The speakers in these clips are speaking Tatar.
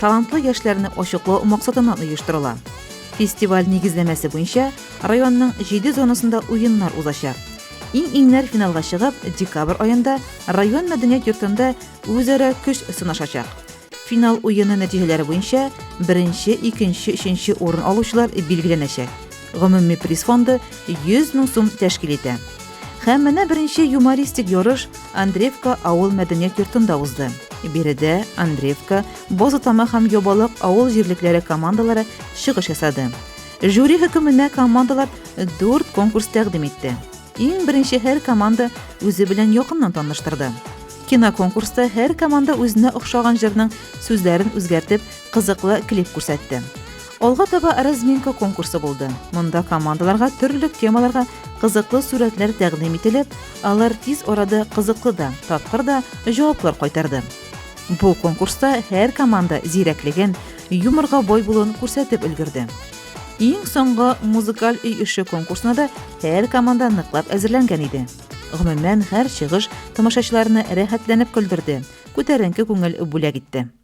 талантлы яшьләрне ачыклау максатыннан оештырыла. Фестиваль нигезләмәсе буенча районның җиде зонасында уеннар узачак. Иң-иңнәр финалга чыгып, декабрь аенда район мәдәният йортында үзара көч сынашачак. Финал уены нәтиҗәләре буенча беренче, икенче, өченче урын алучылар билгеләнәчәк. Гомуми приз фонды 100 мең сум тәшкил итә. Һәм менә беренче юмористик ярыш Андреевка авыл мәдәният йортында узды. Биредә Андреевка, Бозатама һәм Ябалак авыл җирлекләре командалары чыгыш ясады. Жюри хөкеменә командалар 4 конкурс тәкъдим итте. Иң беренче һәр команда үзе белән якыннан таныштырды. Киноконкурста һәр команда үзенә охшаган җырның сүзләрен үзгәртеп, кызыклы клип күрсәтте. Алга таба разминка конкурсы булды. Монда командаларга төрле темаларга кызыклы сурәтләр тәкъдим ителеп, алар тиз арада кызыклы да, тапкыр да җаваплар кайтарды. Бу конкурста һәр команда зирәклеген, юморга бой булуын күрсәтеп өлгерде. Иң соңгы музыкаль өй эше конкурсына да һәр команда ныклап әзерләнгән иде. Гомумән, һәр чыгыш тамашачыларны рәхәтләнеп көлдерде, күтәренке күңел бүләк итте.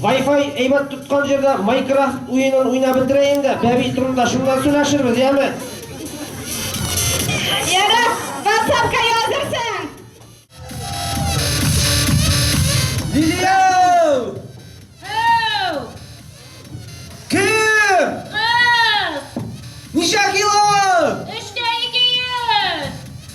Вай-фай әйбәт тоткан җирдә Майкрафт уенын уйнап бетерәйең дә, бәби турында шуннан сөйләшербез, яме? Яра, WhatsApp-ка язырсың. Лилияу! Ау! Кем? Кыз! Ничә кило?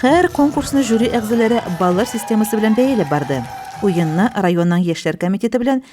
Хәр конкурсны жюри әгъзалары баллар системасы белән бәяләп барды. Уенны районның яшьләр комитеты белән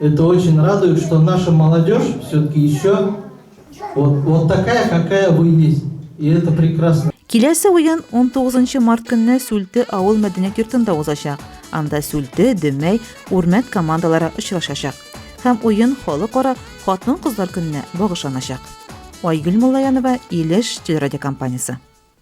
Это очень радует, что наша молодежь все-таки еще вот, вот такая, какая вы есть. И это прекрасно. Киләсе уен 19 март көнне Сүлте авыл мәдәният йортында узачак. Анда Сүлте, Дөмәй, Үрмәт командалары очрашачак. Һәм уен халыкара хатын-кызлар көненә багышланачак. Айгөл Муллаянова, Илеш телерадиокомпаниясе.